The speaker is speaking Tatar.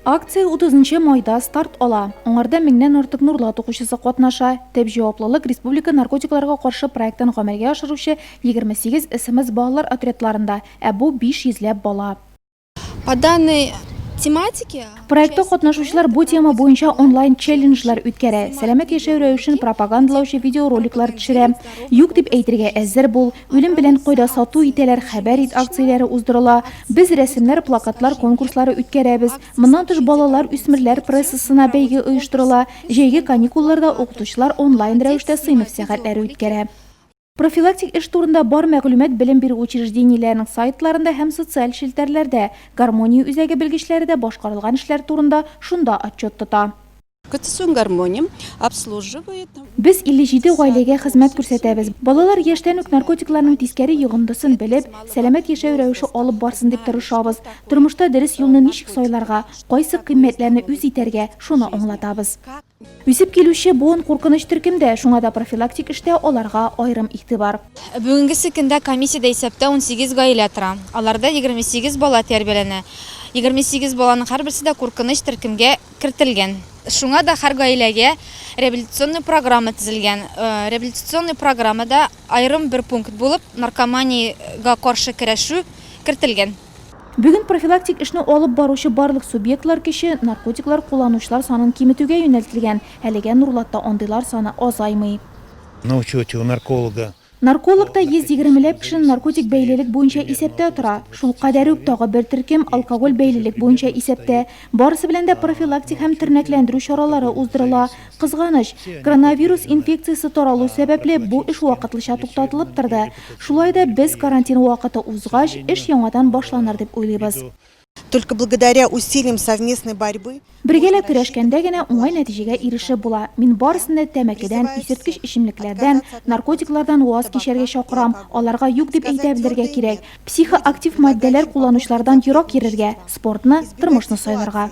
Акция 30 нчы майда старт ала. Аңарда меңнән артык Нурлат укучысы катнаша. Төп җаваплылык республика наркотикларга каршы проектын гамәлгә ашыручы 28 СМС балалар отрядларында, ә бу 500 ләп бала. По данной тематике. Проектта катнашучылар бу тема буенча онлайн челленджлар үткәрә, сәламәт яшәү рәвешен пропагандалаучы видеороликлар төшерә. Юк дип әйтергә әзер бул, Үлем белән кайда сату итәләр, хәбәр ит акцияләре уздырыла. Без рәсемнәр, плакатлар конкурслары үткәрәбез. Моннан тыш балалар, үсмерләр прессасына бәйге оештырыла. Җәйге каникулларда укытучылар онлайн рәвештә сыйныф сәгатьләре үткәрә. Профилактик эш турында бар мәгълүмат белем бирү учреждениеләренең сайтларында һәм социаль челтәрләрдә. Гармония үзәге белгечләре дә башкарылган эшләр турында шунда отчет тота. Без 57 гаиләгә хезмәт күрсәтәбез. Балалар яшьтән үк наркотикларның тискәре йогындысын белеп, сәламәт яшәү рәвеше алып барсын дип тырышабыз. Тормышта дөрес юлны ничек сайларга, кайсы кыйммәтләрне үз итәргә, шуны аңлатабыз. Үсеп килүче буын куркыныч төркемдә, шуңа да профилактик эштә аларга аерым игътибар. Бүгенгесе көндә комиссиядә исәптә унсигез гаилә тора. Аларда егерме сигез бала тәрбияләнә. Егерме сигез баланың һәрберсе дә куркыныч төркемгә кертелгән. Шуңа да һәр гаиләгә реабилитационный программа төзелгән. Реабилитационный программада аерым бер пункт булып наркоманиягә каршы көрәшү кертелгән. Бүген профилактик эшне алып баручы барлык субъектлар кече наркотиклар кулланучылар санын киметүгә юнәлтелгән, әлегә Нурлатта андыйлар саны азаймый. На учете у нарколога Нарколог та 120 ләп кешене наркотик бәйлелек буенча исәптә тора. Шул кадәр үк тагы бер төркем алкоголь бәйлелек буенча исәптә. Барысы белән дә профилактик һәм тернәкләндерү чаралары уздырыла. Кызганыч, коронавирус инфекциясе таралу сәбәпле бу эш вакытлыча туктатылып торды. Шулай да без карантин вакыты узгач, эш яңадан башланыр дип уйлыйбыз. Только благодаря усилиям совместной борьбы. Бергәләп көрәшкәндә генә уңай нәтиҗәгә ирешеп була. Мин барысын да тәмәкедән, исерткеч эчемлекләрдән, наркотиклардан ваз кичәргә чакырам, аларга юк дип әйтә белергә кирәк, психоактив матдәләр кулланучылардан ерак йөрергә, спортны, тормышны сайларга.